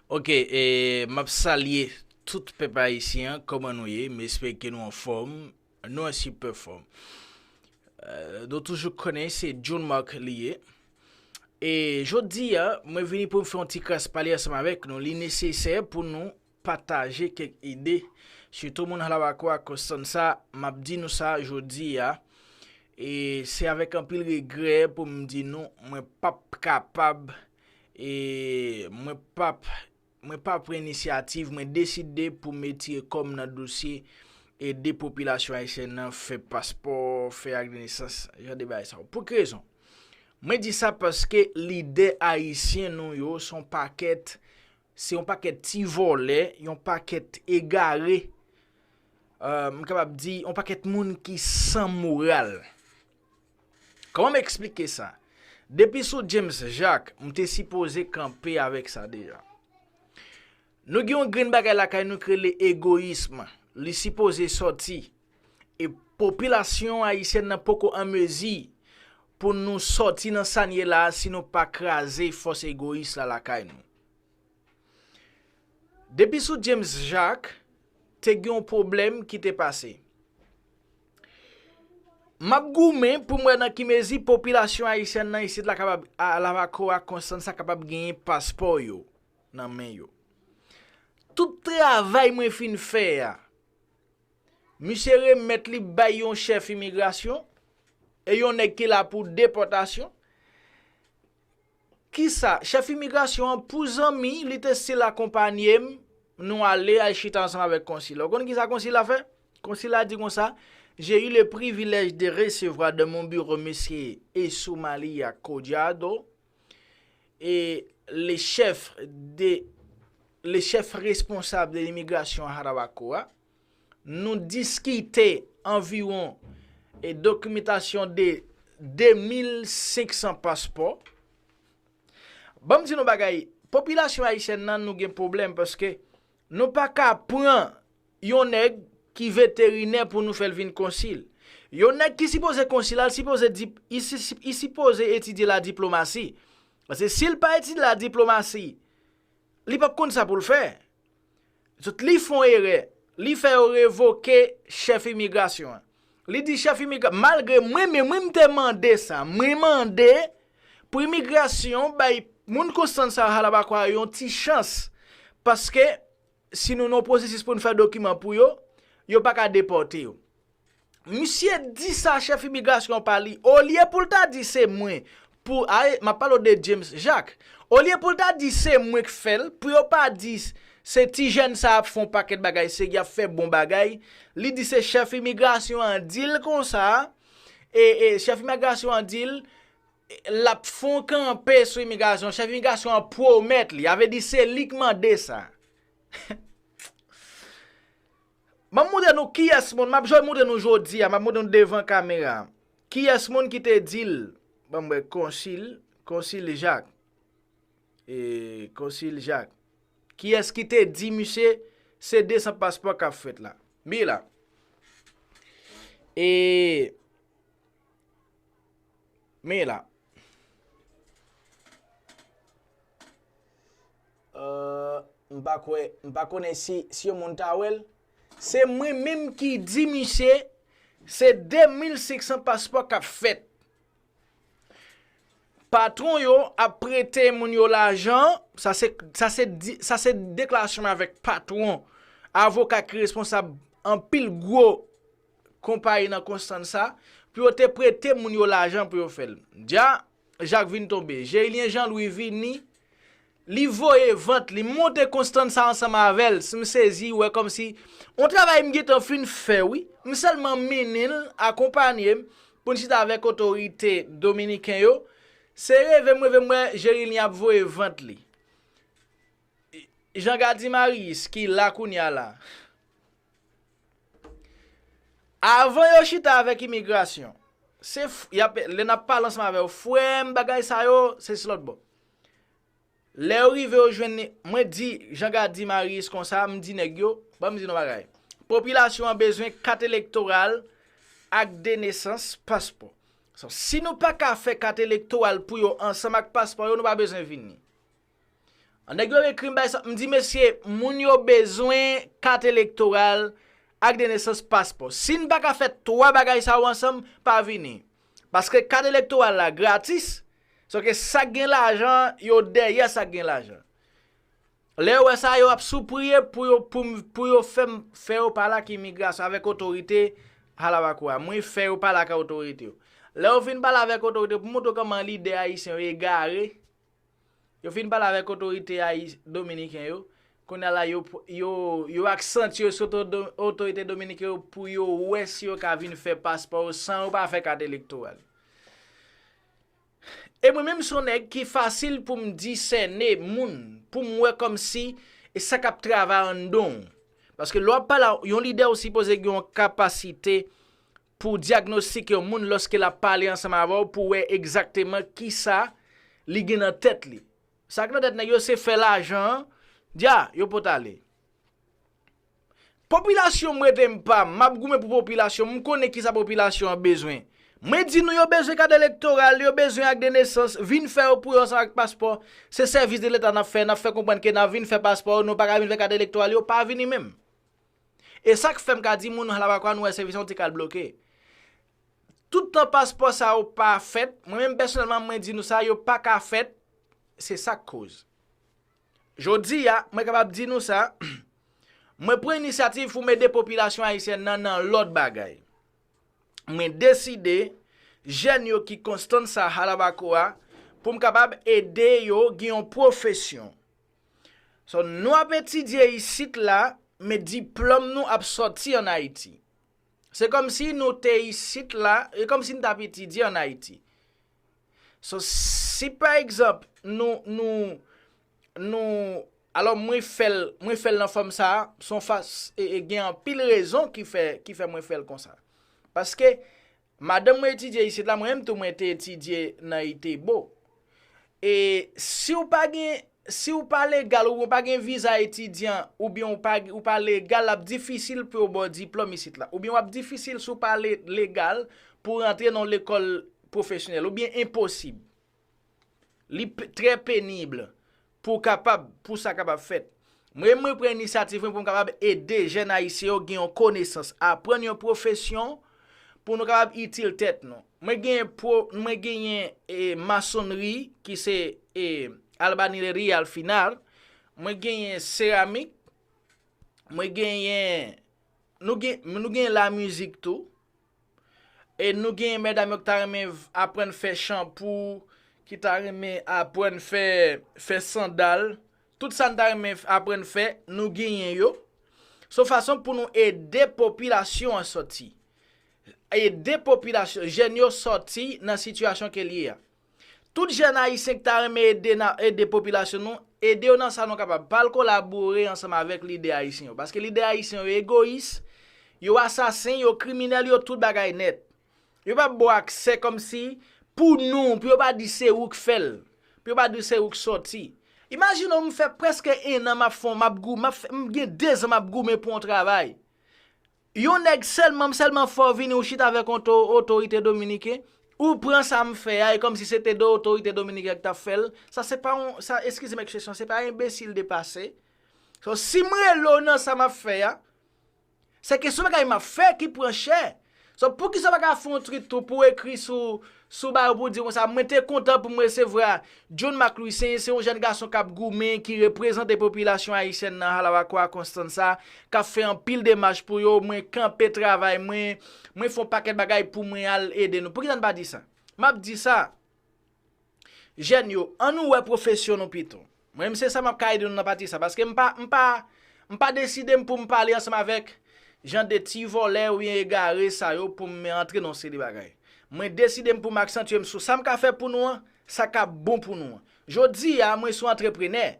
Ok map salye tout pèp ayisyen an kòman nou ye m espere ke nou anfòm nou an sipè fòm nou toujou konnen se John Marc li ye e jodi a mwen vini pou m fè yon ti kras pale ansanm avèk nou li nesesè pou nou pataje kèk ide, sitou moun Hlabakwa Constanza, m ap di nou sa jodi a, e se avèk anpil regrè pou m di nou mwen p ap kapab e mwen p ap mwen p ap pran inisyativ, mwen deside pou m etire kò m nan dosye ede popilasyon ayisyèn nan fè paspò, fè ak de nesans, jan de bagay sa yo. Pou ki rezon? Mwen di sa paske lidè ayisyen nou yo se yon pakèt Se yon pakèt ti vòlè, yon pakèt egare, m kapab di yon pakèt moun ki san moral. Kòman m eksplike sa? Depi sou James Jacques, m te sipoze kanpe avèk sa deja. Nou gen yon grenn bagay lakay nou ki rele egoyism, li sipoze sòti. E popilasyon ayisyèn nan poko an mezi pou nou sòti nan sa n ye la a si nou pa kraze fòs egoyis la lakay nou. Depi sou James Jacques, te gen yon pwoblèm ki te pase. M ap goumen pou m wè nan ki mezi popilasyon ayisyèn nan isit la kapab a Lavako ak Konstansa kapab genyen paspò yo nan men yo. Tout travay mwen fin fè a, misye remèt li bay yon chèf imigrasyon e yon nèg ki la pou depòtasyon. Kisa, chèf imigrasyon an pou zanmi li te stil akonpanye m, nou ale, al chita ansanm avèk konsil la. Ou konn kisa konsil la fè? Konsil la di konsa, J'ai eu le privilège de recevoir dans mon bureau Monsieur Esoumalia Collado, le chef responsable de l'immigration à Jarabacoa. Nou diskite anviwon e dokimetasyon de 2500 paspò. Banm di nou bagay, popilasyon ayisyèn nan nou gen pwoblèm paske nou pa ka pran yon nèg ki veterinè pou nou fè l vin konsil. Yon nèg ki sipoze konsil la, li sipoze etidye la diplomasi. Paske si l pa etidye la diplomasi, li pap konn sa pou l fè. Zot li fon erè, li fè yo revoke chèf imigrasyon an. Li di chèf imigrasyon, malgre mwen menm wi m te mande sa, mwen mande pou imigrasyon bay moun Constance sa Halabakwa yo yon ti chans, paske si nou nan yon pwosesis pou n fè dokiman pou yo, yo pa ka depòte yo. Misye di sa chèf imigrasyon pa li olye poul ta di se mwen pou ae map pale w de James Jacques olye poul ta di se mwen k fèl pou yo pa di se ti jèn sa ap fè yon pakèt bagay se yap fè bon bagay li di se chèf imigrasyon an dil konsa e e chèf imigrasyon an dil lap fè yon kanpe sou imigrasyon chèf imigrasyon an pwomèt li a vle di se li k mande sa. Banm moutre nou kiyès moun map jwe moutre nou jodi a map moutre nou devan kamera kiyès moun ki te di l banm wè konsil konsil jak e konsil jak kiyès ki te di misye se 200 paspò kap fèt la bi la e Men la. Euh, m pa kwè, m pa konnen si, si yon moun ta wèl. Se mwen menm ki di misye, se 2500 paspò k ap fèt. Patwon yo ap prete moun yo lajan, sa se, sa se, sa se deklarasyon mwen avèk patwon, avoka ki responsab anpil gwo. konpayi nan Konstansa pou yo te prete moun yo lajan pou yo fè l. Dja Jak vin tonbe. Jerilyen Janlwi vini, li voye vant li monte Konstansa ansanm avè l. Si m sezi wè kòmsi yon travay m gentan fin fè wi, m sèlman mennen l, akonpanye m pou n chita avèk otorite dominiken yo. Se reve m reve m wè Jerilyen ap voye vant li. Jean Gardy Marius ki la kounye a la. Avan yo chita avèk imigrasyon, se lè nap pale ansanm avè yo, frèm bagay sa yo, se si lòt bò. Lè yo rive yo jwenn ni, mwen di Jean Gardy Marius konsa, m di nèg yo, ban m di nou bagay. Popilasyon an bezwen kat elektoral ak de nesans, paspò. Si nou pa ka fè kat elektoral pou yo ansanm ak paspò yo, nou pa bezwen vini. An nèg yo ekrim bay sa. M di mesye moun yo bezwen kat elektoral ak de nesans paspò. Si n paka fè 3 bagay sa yo ansanm pa vini. Paske kat elektoral la gratis. Sò ke sak gen lajan yo dèyè sak gen lajan. Lè yo wè sa yo ap soupriye pou yo poum pou yo fèm fè yo pale ak imigrasyon avèk otorite Halabacoa. Mwen fè yo pale ak otorite yo. Lè yo fin pale avèk otorite pou moutre yo kòman lidè ayisyen yo egare. Yo fin pale avèk otorite dominiken yo, kounye a la yo ak sant yo sou otorite dominiken yo pou yo wè si yo ka vin fè paspò yo san yo pa fè kat elektoral. E mwen menm son nèg ki fasil pou m di sène moun, pou m wè kòm si e sa kap travay an don. Paske lò ap pale yon lidè ou sipoze gen yon kapasite Pou w dyagnostik yon moun lòske l ap pale ansanm avè w pou w wè egzakteman kisa li gen nan tèt li. Sa k nan tèt nèg yo se fè lajan an, dya, yo pot ale. Popilasyon m rete m pa m, m ap goumen pou popilasyon m, m konnen kisa popilasyon an bezwen. Mwen di nou yo bezwen kad elektoral, yo bezwen ak de nesans, vin fè yo pou yo ansanm ak paspò. Se sèvis de leta n ap fè, n ap fè konprann ke n ap vin fè paspò yo, nou pa ka vin fè kad elektoral, yo pa vini menm. E sak fèm ka di moun Hlabakwa nou wè se vizyon ti kal bloke. Tout tan paspò sa yo pa fèt, mwen menm pèsonèlman mwen di nou sa yo pa ka fèt, se sak koz. Jodi a, mwen kapab di nou sa, mwen pran inisyativ pou m ede popilasyon ayisyèn nan nan lòt bagay. Mwen deside jèn yo ki konstan sa Halabakoa pou m kapab ede yo gen yon pwofesyon. So nou ap etidye isit la men diplòm nou ap sòti an Ayiti. Se kòmsi nou te isit la, e kòmsi n t ap etidye an Ayiti. So si pa egzanp nou, nou, nou, alò mwen fè l, mwen fè l nan fòm sa a, son fas, e gen anpil rezon ki fè, ki fè mwen fè l konsa. Paske Madanm mwen etidye isit la, mwen menm tou mwen te etidye nan Itebo. E si w pa gen, si w pa legal oubyen w pa gen viza etidyan oubyen w pa, ou pa legal l ap difisil pou yo ba w diplòm isit la. Oubyen w ap difisil si w pa legal pou w rantre nan yon lekòl pwofesyonèl oubyen enposib. Li trè penib pou kapab, pou sa kapab fèt. Mwen mwen pran inisiyatif mwen pou m kapab ede jèn ayisyen yo gen yon konesans, aprann yon pwofesyon pou nou kapab itil tèt nou. Mwen gen pou, mwen genyen e masonri ki se e albanileri al final, mwen genyen seramik, mwen genyen, nou gen, nou gen la mizik tou, E nou genyen medam yo ki ta renmen aprann fè chanpou, ki ta renmen aprann fè fè sandal, tout sa n ta renmen aprann fè, nou genyen yo. Se yon fason pou nou ede popilasyon an sòti. Ede popilasyon, jèn yo sòti nan sitiyasyon ke l ye a. Tout jèn ayisyen k ta renmen ede nan ede popilasyon nou, ede yo nan sa nou kapab, pa al kolabore ansanm avèk lidè ayisyen yo. Paske lidè ayisyen yo egoyis, yo asasen, yo kriminèl, yo tout bagay nèt. Yo pa p ba w aksè kòm si pou nou, pou yo pa di se ou k fè l, pou yo pa di se ou k sòti. Imajine w m fè prèske ennan m ap fon, m ap gou, m ap fè, m gen dezan m ap goumen pou yon travay. Yon nèg sèlmam sèlman fò vini ou chita avèk yon to otorite dominiken ou pran sa m fè a e kòmsi se te 2 otorite dominiken k tap fè l sa se pa yon sa eskize m ekspresyon se pa enbesil depase so si m rele w nan sa map fè a se kesyon bagay map fè ki pran chè so poukisa w pa ka fè yon twit tou pou w ekri sou Sou ba yo pou di konsa, mwen te kontan pou m resevwa John Marc Louis Saint, se yon jèn gason k ap goumen, ki reprezante popilasyon ayisyèn nan Jarabacoa, Constanza, k ap fè anpil demach pou yo, mwen kanpe travay mwen, mwen fè yon pakèt bagay pou mwen al ede nou. Poukisa n pa di sa? M ap di sa, jèn yo, an nou wè pwofesyon nou pito. Mwen m se sa map ka ede nou nan pati sa paske m pa m pa m pa deside m pou m pale ansanm avèk jan de ti vòlè oubyen egare sa yo pou m antre nan yon seri de bagay mwen deside m pou m aksantye m sou sa m ka fè pou nou an sa ka bon pou nou an jodi a mwen son antreprenè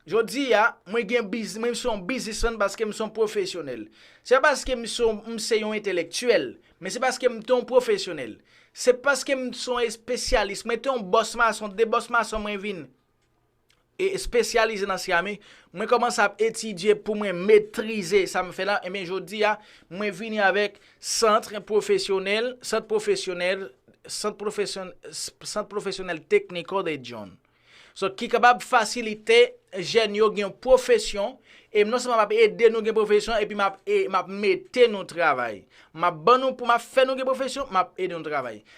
jodi a mwen gen biz mwen son yon bizismann paske m son pwofesyonèl se pa paske m son m se yon entelektyèl men se paske m te yon pwofesyonèl se paske m son espesyalis mwen te yon bòs mason de bòs mason mwen vin espesyalize nan serami, mwen kòmanse ap etidye pou mwen metrize sa m fè la, enben jodi a, mwen vini avèk Centre Professionnel, Sant Pwofesyonèl, Sant Pwofesyon, Sant Pwofesyonèl Tekniko de Dyon. So, ki kapab fasilite jèn yo gen yon pwofesyon, e non sèlman m ap ede nou gen pwofesyon, epi m ap, e, m ap mete nou travay. M ap ban nou, pou m ap fè nou gen pwofesyon, m ap ede nou travay.